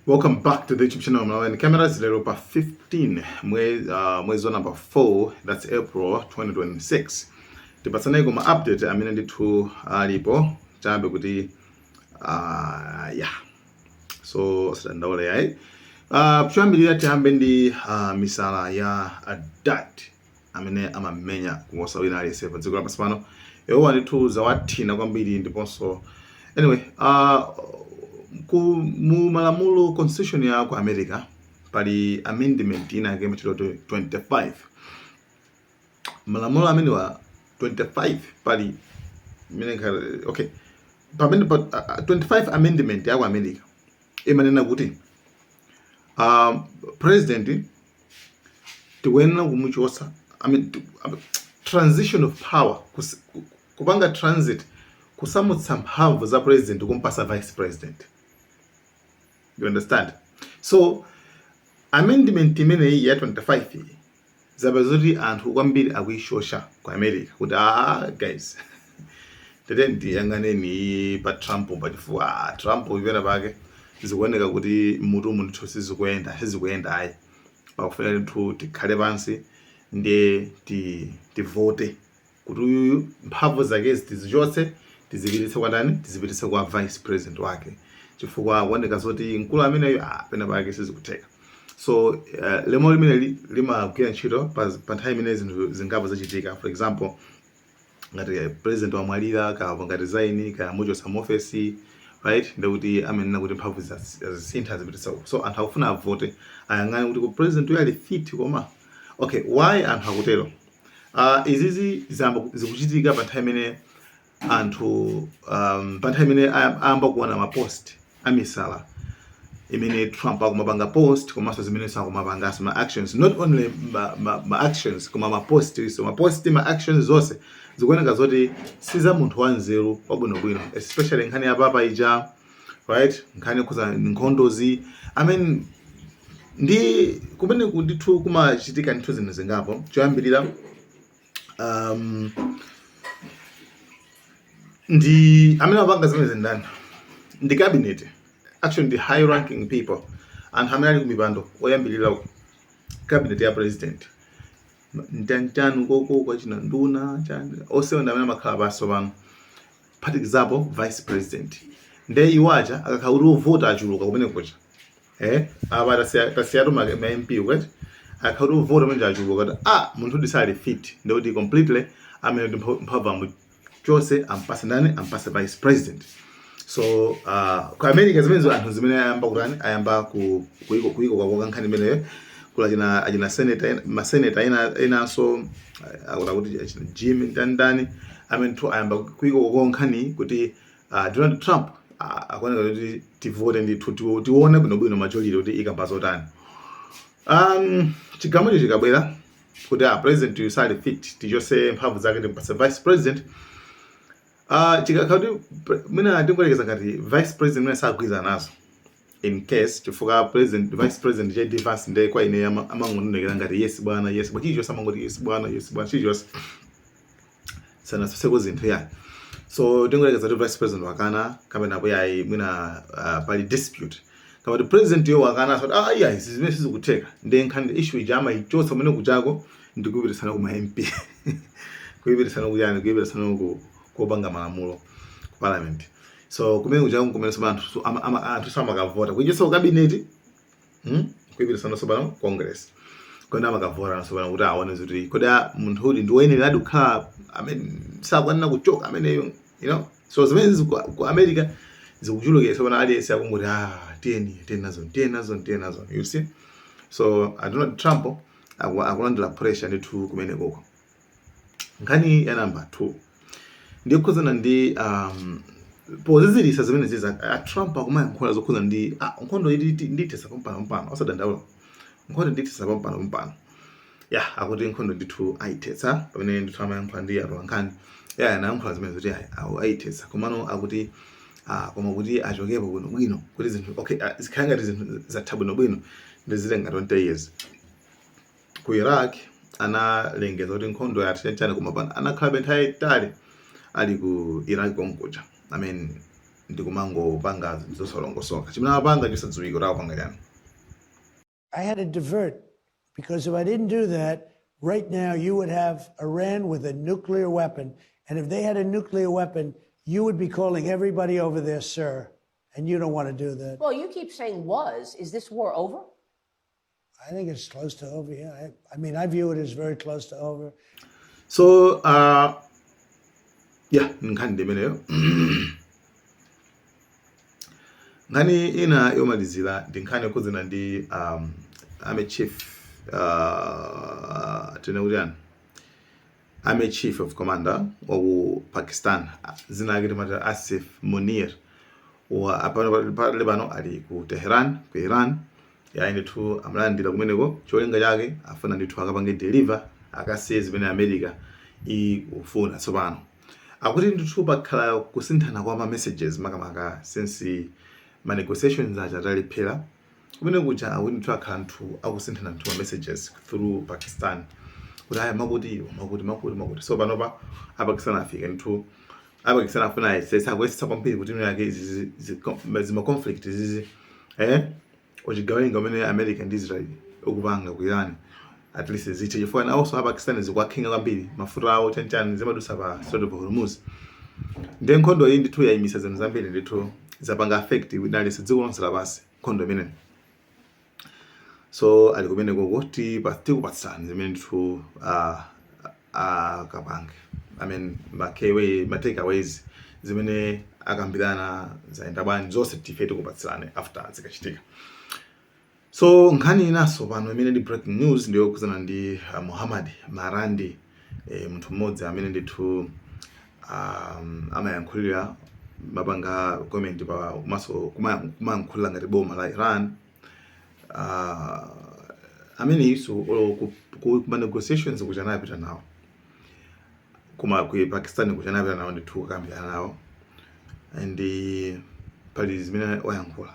Welcome back to the YouTube channel Malawian Cameras. Lero pa 15 mwezi uh, mwezi wa number 4 that's April 2026. Tipatsane koma update amene ndithu alipo chambe kuti uh, yeah. So tisadandaule ayi. Uh, kuyambirira tiyambe ndi uh, misala ya adat amene amamenya kuposa wina aliyense pa dziko lapansi pano. Iwowa ndithu zawathina kwambiri ndiponso anyway, uh, ku, mu malamulo constitution ya ku America pali amendment ina yake imatchedwa 25 malamulo amenewa 25 pali amene ikhale- okay pamene pa, ah, 25 amendment ya ku America imanena kuti um, president tikuyenera kumuchotsa I mean, tiku- I mean, transition of power kus- ku- kupanga transit kusamutsa mphamvu za president kumpatsa vice president you understand so amendment imeneyi ya 25 iyi zapezeka kuti anthu kwambiri akuyishosha ku america kuti ah guys tete tiyang'aneni pa trump pachifukwa ah, trump pena pake zikuoneka kuti mutu wa munthu sizikuyenda sizikuyenda ayi pakufunika ndithu tikhale pansi ndiye ti- tivote kuti uyuyu mphamvu zake tizichotse tizipititse kwa ndani tizipititse kwa vice president wake chifukwa akuoneka zoti mkulu ameneyo ah, pena pake sizikutheka so uh, lamulo limeneli limagwira ntchito pa pa nthawi imene zinthu zingapo zachitika for example ngati president wamwalira kaya apanga resign kaya amuchotsa mu office right ndekuti amanena kuti mphamvu zas- azisintha azipititsa uku so anthu akufuna avote ayang'ane kuti kodi president uyu ali fit koma okay why anthu akutero uh, izizi ziyamba ku- zikuchitika pa nthawi imene anthu um, pa nthawi imene ayam- ayamba kuona mapost amisala imene Trump akumapanga post komanso zimenezo akumapanga ma actions not only ma, ma, ma actions koma ma post so ma post ma actions zonse zikuoneka zoti si za munthu wanzeru wabwinobwino especially nkhani ya papa ija right nkhani yokhudza nkhondozi i mean ndi kumene ndithu kumachitika ndithu zinthu zingapo choyambirira um, ndi amene amapanga zimenezi ndani ndi cabinet actually ndi high ranking people anthu amene ali kumipando oyambirira uko cabinet ya president mtunda ukoko kwa achina nduna chani onse ndi amene amakhala pansi pano phatikizapo vice president nde iwo aja akakhala kuti ovota achuluka kumene kuja eh apa tasiya tasiyatu ma ma MP kuti akhala kuti avota manje achuluka kuti ah munthudi sali fit ndikuti completely amene kuti mpha- mphamvu amuchotse ampatse ndani ampatse vice president so uh, ku america zimenezo anthu zimene ayamba kutani ayamba ku- kuiko kuikokakoka nkhani imeneyo kuli achina achina senator ena- maseneta ena enanso uh, akuti akuti achina jim ndandani amenetu ayamba kuikokakoka nkhani kuti uh, Donald Trump ah, akuoneka kuti tivote ndithu tione bwinobwino majority kuti ikamba zotani um, chigamucho chikabwera kuti a ah, president uyu sali fit tichotse mphamvu zake timpatse vice president uh, chikakhala kuti mwina tingoyerekeza ngati vice president mwina sagwirizana nazo in case chifukwa president vice president JD Vance ndiye kwa ine ama- amangoonekera ngati yes bwana yes bwana chilichonse amangoti yes bwana yes bwana chilichonse sanatsutseko zinthu ya so tingoyerekeza kuti vice president wakana kapena kuti ayi mwina uh, pali dispute kaya kuti president-yo wakana akuti ah iyayi izi zimene sizikutheka ndiye nkhani issue ija amaichotsa kumene kujako ndi kuipititsano kuma mp kuipititsano kuyani kuipititsano ku- kopanga malamulo ku parliament so kumene kuja kumene sopano anthu so- ama- ama- anthuso amakavota kuichotsa kukabineti hmm? kuipititsano sopano congress kuti amakavotano sopano kuti aone zoti kodi a- munthu uyu ndi woyenereradi kukhala kapena akuyenera kuchoka ameneyo you know so zimenezi ku, ku america zikuchulukira so pano aliyense akungoti ah tiyeni tiyeni nazo tiyeni nazo tiyeni nazo you see so a donald trump aku- akulandira pressure ndithu kumene koko nkhani ya namba 2 ndi yokhudzana ndi um, pozizirisa zimenezi za a Trump akumayankhula zokhudzana ndi ah, nkhondo iyi ndithetsa pampano pampano osadandaula nkhondo ndithetsa pampano pampano ya akuti nkhondo ndithu ayithetsa pamene ndithu amayankhula ndi atolankhani ya anayankhula zimene zoti ayithetsa komano akuti ah, koma kuti achokepo bwino bwino kuti zinthu okay ah, zikhale ngati zinthu zatha bwino bwino ndi zitenga 20 years ku Iraq analengeza kuti nkhondo yatha koma pano anakhalabe nthawi yaitali ali ku Iraq konkuja I mean ndikumangopanga zinthu zosalongosoka chimene amapanga chosadziwika kuti akupanga chani I had to divert because if I didn't do that, right now you would have Iran with a nuclear weapon. And if they had a nuclear weapon, you would be calling everybody over there, sir. And you don't want to do that. Well, you keep saying was. Is this war over? I think it's close to over. Yeah, I, I mean, I view it as very close to over. so uh, yeah nkhani ndi imeneyo nkhani ina yomalizira ndi nkhani yokhudzana ndi um, army chief uh, tinene kuti chani Army Chief of Commander wa ku Pakistan dzina lake timati Asif Munir wa apano pali- pali pano ali ku Tehran ku Iran yayi ndithu amulandira kumeneko cholinga chake afuna ndithu akapange deliver akasiye zimene America ikufuna tsopano akuti ndithu pakhala kusinthana kwa ma messages makamaka since ma negotiations aja atalephera kumene kuja ayi ndithu akhala ndithu akusinthana ndithu ma messages through pakistan kuti ayi makuti makuti makuti makuti so panopa apakistan afika ndithu apakistan afuna ayesesa akuyesetsa kwambiri kuti mwina zake izi- izi- zi- zima conflict zizi eh uchigawenga umene america ndi israel ukupanga ku iran at least zithe chifukwa nawonso apakistan zikuwakhudza kwambiri mafuta awo chanchani zimadutsa pa strait of hormuz ndiye nkhondo iyi ndithu yayimisa zinthu zambiri ndithu zapanga affect wina aliyense dziko lonse lapansi nkhondo imeneyi so ali kumeneko tikupatsani zimene ndithu akapange i mean matakeaways zimene akambirana zaenda bwanji zonse ife tikupatsirani after zikachitika So nkhani inanso pano imene ndi breaking news ndi yokhudzana ndi uh, Muhammad Marandi e, munthu mmodzi amene ndithu um, amayankhulira amapanga comment komanso kumayankhulira ngati boma la Iran uh, amenenso ku, ku, ku negotiations kuja anapita nawo ku Pakistan kuja anapita nawo ndithu kukambirana nawo and pali zimene wayankhula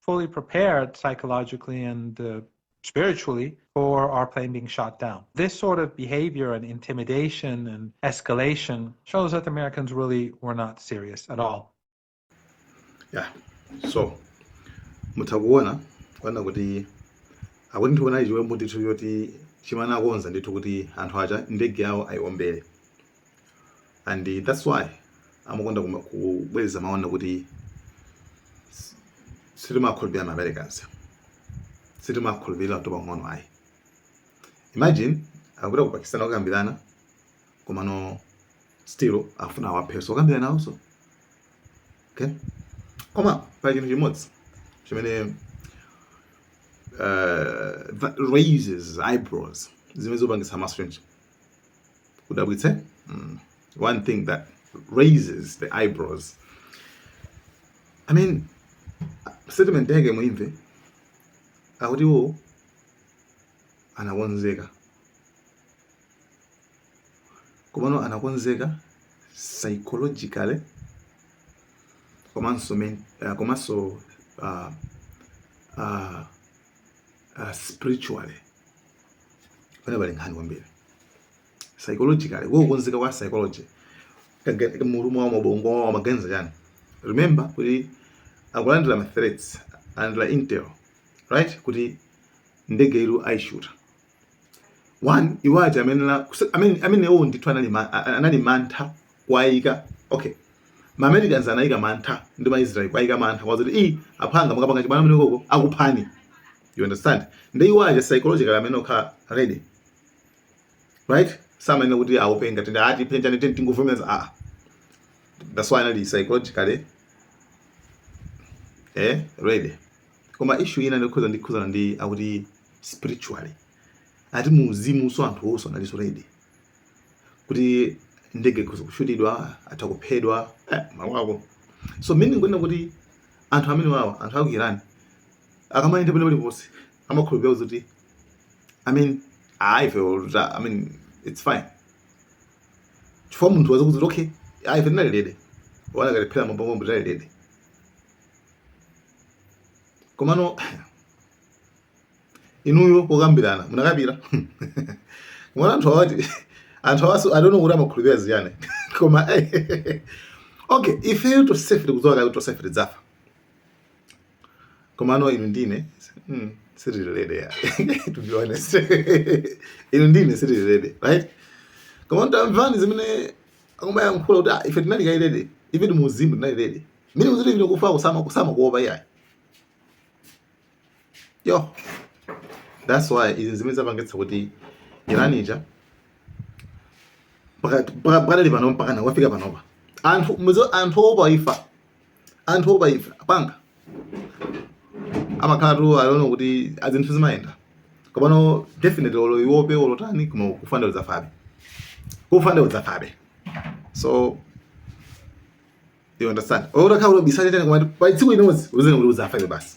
fully prepared psychologically and uh, spiritually for our plane being shot down. This sort of behavior and intimidation and escalation shows that the Americans really were not serious at all. Yeah. So, mutha kuona kuona kuti akuti ndinaona chiwembu ndithu choti chimene anakonza ndithu kuti anthu aja ndege yawo ayiwombere and eh, that's why amakonda kubwereza mawu kuti sitimawakhulupirira ma americans sitimawakhulupirira olo pang'ono ayi imagine akupita ku pakistan akukambirana komano still afuna awaphenso okambirana awonso okay koma pali chinthu chimodzi chimene uh, raises eyebrows zimene zopangitsa maso chonchi kudabwitsa mm. one thing that raises the eyebrows i mean statement yake muimve akuti iwo anakonzeka komano anakonzeka psychologically komanso men- uh, komanso uh, uh, uh, spiritually Pamene pali nkhani kwambiri psychologically, kukonzeka kwa psychology mumu mmabongo amaganiza chani. Remember kuti akulandira ma threats analandira intel right kuti ndege iyo aishuta one iwo aja amene la amene amenewo ndithu anali anali mantha kuwaika okay ma Americans anawaika mantha ndi ma Israel kuwaika mantha kuwauza kuti i aphwanga mukapanga chibwana mmeneko uko akuphani you understand ndi iwo aja psychological amenewo kukhala ready right samanena kuti aope ngati ndiye atipweteka ndiye tingovomeza ah that's why anali psychologically eh ready koma issue ina yokhudza yokhudzana ndi yakuti spiritually ati mu uzimu so anthu onse analinso ready kuti ndege ikhoza kushutidwa atha kuphedwa eh, mawu ako so meaning kunena kuti anthu amene awawa anthu aku Iran akamayenda pena paliponse amakhulupirira kuti i mean ayi ife oluta i mean it's fine chifukwa munthu akukuuza kuti okay ayi ife tinali ready olo akanatiphera mabomba tinali ready komano inuyo pokambirana munakapitira komano anthu awatu anthu awanso i don't know kuti amakhulupirira zichani koma okay ifeyo tosefe tikudziwa kale kuti tosefe tidzafa komano inu ndine mm, sitili ready ya to be honest inu ndine sitili ready right komano tamvani zimene akumayankhula kuti ah, ife tinali kale ready ife ndi mu uzimu tinali ready meaning kuti ine kufa kusama kusamakuopa iyayi yo that's why izi zimene zapangitsa kuti Iran ija pakadali pakadali pano mpakana yafika panopa anthu muzo anthu oopa imfa anthu oopa imfa aphwanga amakhalatu akuona kuti ah zinthu zimayenda komano definitely olo uope olo tani koma kufa nde udzafabe kufa nde udzafabe so you understand olo utakhala kuti ubisale pena koma pa tsiku limodzi udziwe kuti udzafabe basi